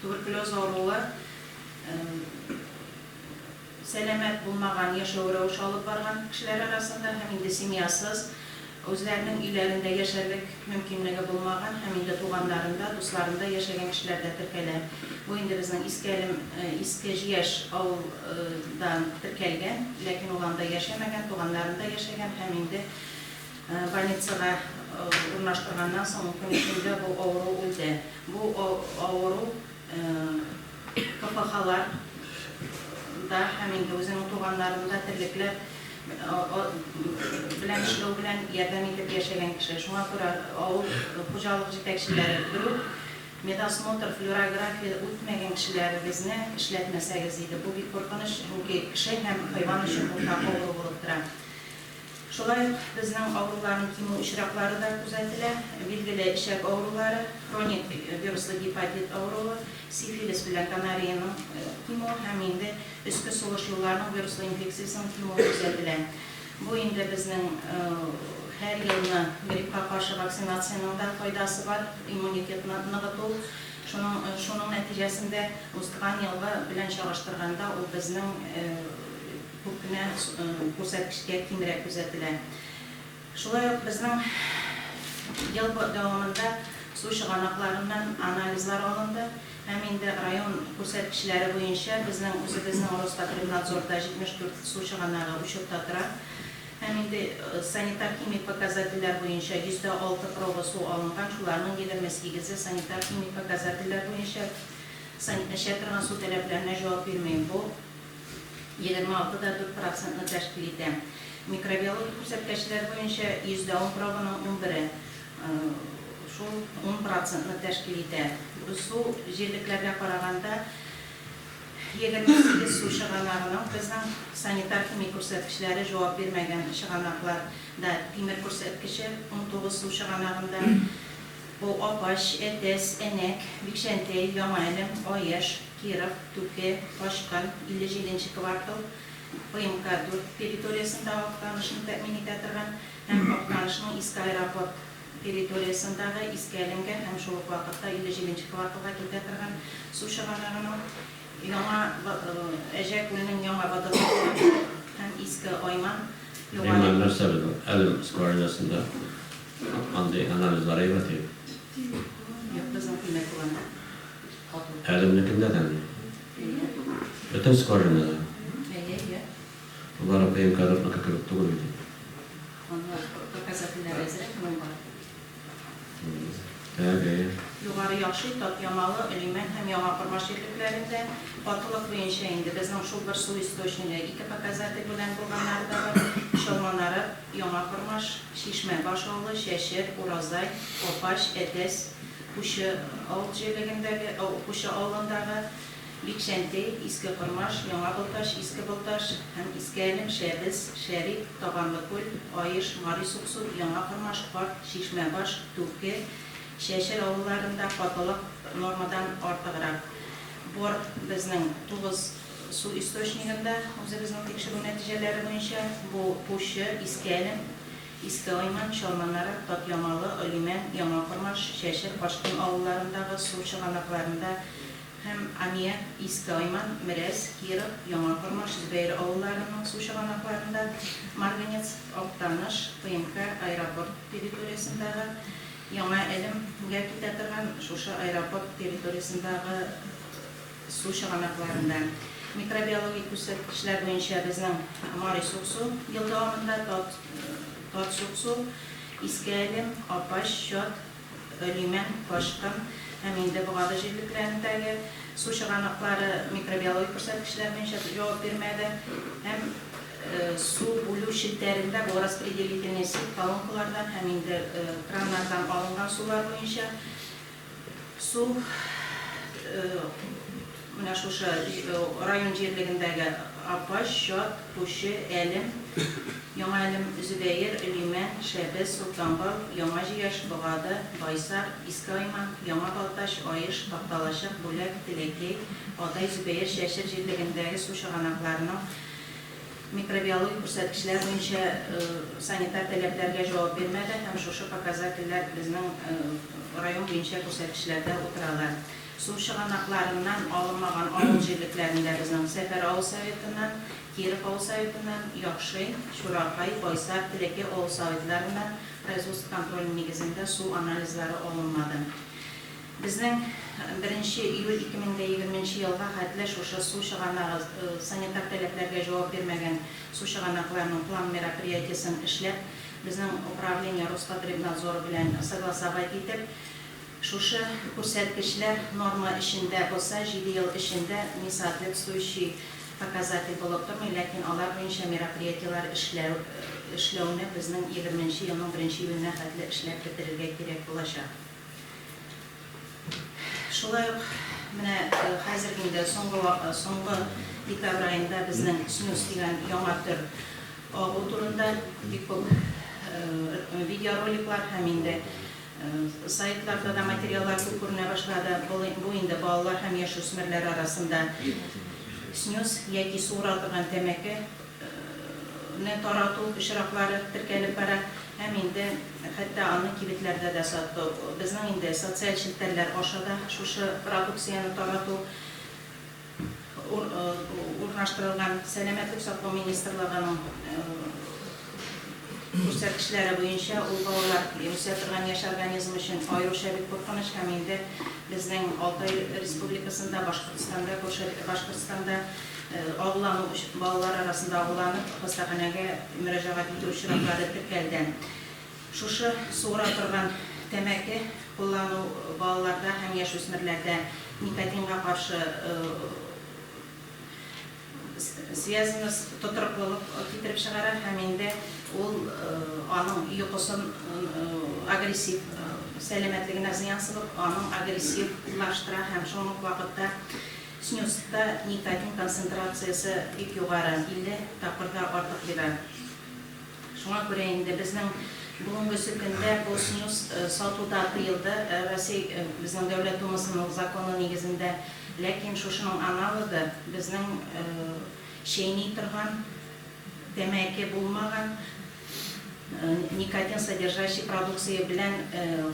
Туберкулез авыруы сәламәт булмаган яшәү рәвеше алып барган кешеләр арасында һәм инде семьясыз, үзләренең өйләрендә яшәрлек мөмкинлеге булмаган һәм инде туганнарында, дусларында яшәгән кешеләрдә теркәлә. Бу инде безнең Искәлем, Иске Җияш авыл да теркәлгән, ләкин ул анда яшәмәгән, туганнарында яшәгән һәм инде Больницага урнаштырганнан соң көн эчендә бу авыру үлде. Бу авыру КПХлар да һәм инде үзенең туганнарын да терлекләр белән эшләү белән ярдәм итеп яшәгән кеше. Шуңа күрә авыл хуҗалык җитәкчеләре бер үк медосмотр, флюорография үтмәгән кешеләрегезне эшләтмәсәгез иде. Бу бик куркыныч, чөнки кеше һәм хайван өчен уртак авыру булып тора. Шулай ук безнең авыруларны кимү очраклары да күзәтелә. Билгеле эчәк авырулары, хроник вируслы гепатит авыруы, сифилис белән гонореянең кимүе һәм инде өске сулыш юлларының вируслы инфекциясенең кимүе күзәтелә. Бу инде безнең һәр елны гриппка каршы вакцинациянең дә файдасы бар, иммунитетны ныгыту. Шуның шуның нәтиҗәсендә узган елгы белән чагыштырганда ул безнең Күп кенә күрсәткечкә кимрәк күзәтелә. Шулай ук безнең ел дәвамында су чыганакларыннан анализлар алынды һәм инде район күрсәткечләре буенча безнең үзебезнең Роспотребнадзорда 74 су чыганагы учетта тора һәм инде санитар-химик показательләр буенча 106 проба су алынган, шуларның 28-е санитар-химик показательләр буенча, эчә торган су таләпләренә җавап бирми. Бу. егерме алты да дүрт процентны тәшкил итә. Микробиологик күрсәткәчләр буенча 100 дә ун пробаның унбере, шул ун процентны тәшкил итә. Су җирлекләргә караганда, егерме сигез су чыганагының безнең санитар-химик күрсәткечләре җавап бирмәгән чыганаклар да, тимер күрсәткече унтугыз су чыганагында, бу Апач, Әтәс, Әнәк, Бикчәнтәй, Яңа Әлем, Аеш, Киров, Түке, Качкын, 57 нче квартал, ПМК 4 территориясендә Актанышны тәэмин итә торган һәм Актанышның Иске аэропорт территориясендагы Иске Әлемгә һәм шул ук вакытта 57 нче кварталга китә торган су чыганагының Яңа Әҗә күленең Яңа водопроводы һәм Иске Айман Югары Римма, нәрсә безнең Әлем скважинасында андый анализлар әйбәт икән. Юк, безнең тимер куллана. Хәзернекендә дәме юк. Бөтен скорыйны да. Болар апаем кадетныкы кебек түгел бит инде. Анлар показательләр әзрәк моңа. Так, әйе. Югары Яхшый, Татъямалы, Олимән һәм Яңа Кормаш җирлекләрендә катылык буенча инде безнең шул бер су источнигы, ике показатель белән булганнары да бар, Чалманарык, Яңа Кормаш, Чишмә Баш авылы, Чәчер, Уразай, Апач, Әтәс, Кучы авыл җирлегендәге, ау, Кучы авылындагы Бикчәнти, Иске Кормаш, Яңа Былтач, Иске Былташ һәм Иске Әлем, Шәбез, Шәрик, Табанлы Күл, Аеш, Мари Суксу, Яңа Кормаш, Карт, Чишмәбаш, Түке, Чәчер авылларында катылык нормадан артыграк бор Безнең тугыз су источнигында, үзебезнең тикшерү нәтиҗәләре буенча, бу, Кучы, Иске Әлем, Иске Айман, Чалманарат, Татъямалы, Олимән, Яңа Кормаш, Чәчер, Башкын авылларындагы су чыганакларында һәм Аммиак, Иске Айман, Мерәс, Киров, Яңа Кормаш, Зөбәер авылларының су чыганакларында, Марганец, Актаныш, ПМК, аэропорт территориясендагы, Яңа Әлем, гә китә торган, шушы аэропорт территориясендагы, су чыганакларында, микробиологик күрсәткечләр буенча безнең Мари Суксу ел дәвамында Тат, Тат Суксу, Иске Әлем, Апач, Чат, Лимән, Ташкын һәм инде Богады җирлекләрендәге су чыганаклары микробиологик күрсәткечләр буенча җавап бирмәде һәм су бүлү челтәрендә бу распределительный сеть колонкалардан һәм инде краннардан алынган сулар буенча Су менә шушы район җирлегендәге Апач, Чат, Кучы, Әлем, Яңа Әлем, Зөбәер, Лимән, Шәбез, Солтанбал, Яңа Җияш, Богады, Байсар, Иске Айман, Яңа Балтач, Аеш, Такталачык, Бүләк, Теләкәй, Адай, Зөбәер, Чәчер җирлегендәге су чыганакларының Микробиологик күрсәткечләр буенча санитар таләпләргә җавап бирмәде һәм шушы показательләр безнең район буенча күрсәткечләрдә утыралар. Су чыганакларыннан алынмаган авыл җирлекләрендә безнең Сәфәр авыл Советыннан, Киров авыл Советыннан, Яхшин, Чуракай, Байсар, Теләкәй авыл Советларыннан производство контроле нигезендә су анализлары алынмады. Безнең беренче июль ике мең дә егерме нче елга хәтле шушы су чыганагы санитар таләпләргә җавап бирмәгән су чыганакларының план мероприятиесен эшләп, безнең управление Роспотребнадзоры белән согласовать итеп, шушы күрсәткечләр норма эчендә булса, җиде ел эчендә несоответствующий показатель булып тормый, ләкин алар буенча мероприятиеләр эшләү эшләүне безнең егерме нче елның беренче июленә хәтле эшләп бетерергә кирәк булачак. Шулай ук менә хәзерге инде соңгы соңгы декабрь аенда безнең снюс дигән яңа төр агу турында бик күп видеороликлар һәм инде сайтларда да материаллар күп күренә башлады. Бу инде балалар һәм яшүсмерләр арасында снюс яки суыра торган тәмәке Ны тарату очраклары теркәлеп бара һәм инде хәтта аны кибетләрдә дә сату, безнең инде социаль челтәрләр аша да шушы продукцияне тарату урнаштырылган. Сәламәтлек саклау министрлыгының күрсәткечләре буенча, ул балалар үсә торган яшь организм өчен аеруча бик куркыныч һәм инде безнең Алтай Республикасында, Башкортстанда, күрше Башкортстанда, Агулану өчен балалар арасында агуланып хастаханәгә мөрәҗәгать итү очраклары теркәлгән. Шушы суыра торган тәмәке куллану балаларда һәм яшүсмерләрдә никотинга каршы связемыз тотрыклылык китереп чыгара һәм инде ул аның йокысын агрессив сәламәтлегенә зыян сылып, аның агрессивлаштыра һәм шул ук вакытта Снюсьта никотин концентрациясе бик югары, 50 тапкырга артык бирә. Шуңа күрә инде безнең бүгенгесе көндә бу снюс сату да тыелды Россия безнең Дәүләт Думасының законы нигезендә. Ләкин шушының аналогы, безнең чәйни торган, тәмәке булмаган Никотин содержащий продукция белән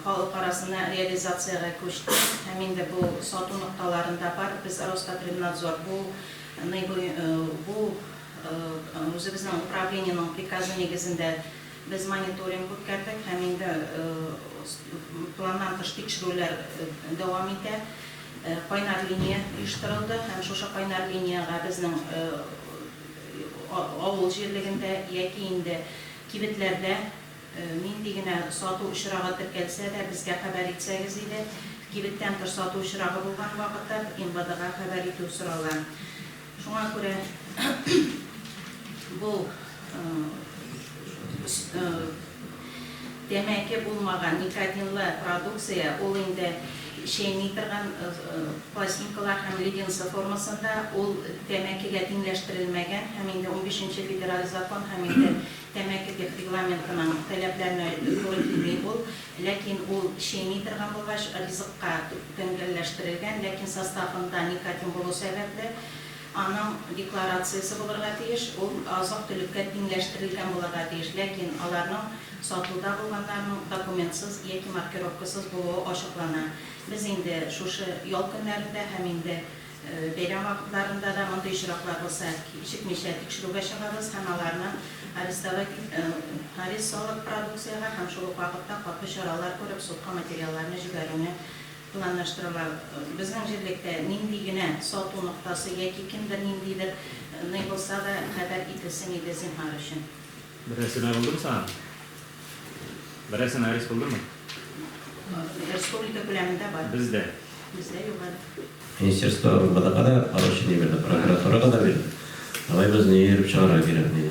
халык арасына реализациягә күчтек һәм инде бу сату нокталарында бар. Без Роспотребнадзор бу ны бу үзебезнең управлениенең приказы нигезендә без мониторинг үткәрдек һәм инде планнан тыш тикшерүләр дәвам итә. Кайнар линия оештырылды һәм шушы кайнар линиягә безнең Авыл җирлегендә яки инде кибетләрдә нинди генә сату очрагы теркәлсә дә, безгә хәбәр итсәгез иде. Кибеттән тыш сату очрагы булган вакытта МВДга хәбәр итү сорала. Шуңа күрә бу Тәмәке булмаган никотинлы продукция, ул инде чәйни торган пластинкалар һәм леденцы формасында, ул тәмәкегә тиңләштерелмәгән һәм инде унбишенче федераль закон һәм инде тәмәке дип регламентының таләпләренә туры килми ул, ләкин ул чәйни торган булгач, ризыкка тәңгәлләштерелгән, ләкин составында никотин булу сәбәпле, Аның декларациясе булырга тиеш, ул азык-төлеккә тиңләштерелгән булырга тиеш, ләкин аларның сатуда булганнарның документсыз яки маркировкасыз булуы ачыклана. Без инде шушы ял көннәрендә һәм инде бәйрәм вакытларында да мондый очраклар булса, кичекмичә тикшерүгә чыгабыз һәм аларны арестовать арест салып, продукциягә һәм шул ук вакытта каты чаралар күреп, судка материалларны җибәрүне Планлаштырыла. Безнең җирлектә нинди генә сату ноктасы яки кемдер ниндидер ный булса да, хәбәр ителсен иде, зинһар өчен. Берәрсе мә булдымы саңа? Берәрсе мә рис булдымы? Республика күләмендә бар. Бездә? Бездә юк әле. Министерство урынбада када, поручение бирде, прокуратурага да бирде. Давай без не йөреп чыгарга кирәкми.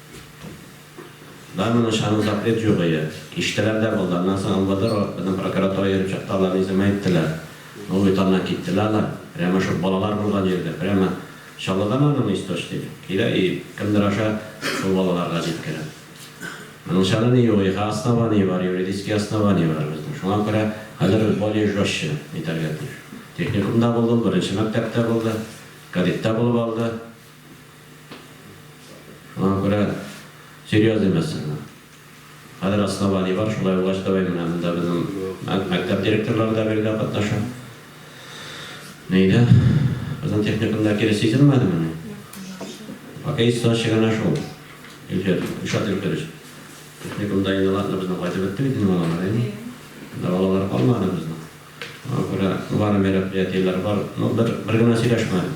Да моны чаны закрыт җугые. Кичтеләр дә булды. Аннан соң МВД ро, безнең прокуратура йөреп чыкты, алар иземә иттеләр. Ну, бит аннан киттеләр алар. Прямо шул балалар булган җиргә, прямо Чаллыдан аның источник. Килә и кемдер аша шул балаларга җиткерә. Моның чаны ни югыйга основание бар, юридический основание бар безнең. Шуңа күрә хәзер без более жестче итәргә тиеш. Техникумда булды ул, беренче мәктәптә булды, кадеттә булып алды. Аңа күрә серьёз имәс аңа. Хәзер основание бар, шулай булгач давай менә монда безнең мәктәп директорлары да биредә катнаша. Нидә? Безнең техникумда кире сизелмәдемени? Пока есть сынчы гына шул. Илфир, Илшат Илфирович, техникумда инде ладно безнең кайтып бетте бит инде балалар, әйеме? Монда балалар калмады безнең. Аңа күрә бар мероприятиеләр бар, ну бер генә сөйләшмәдек.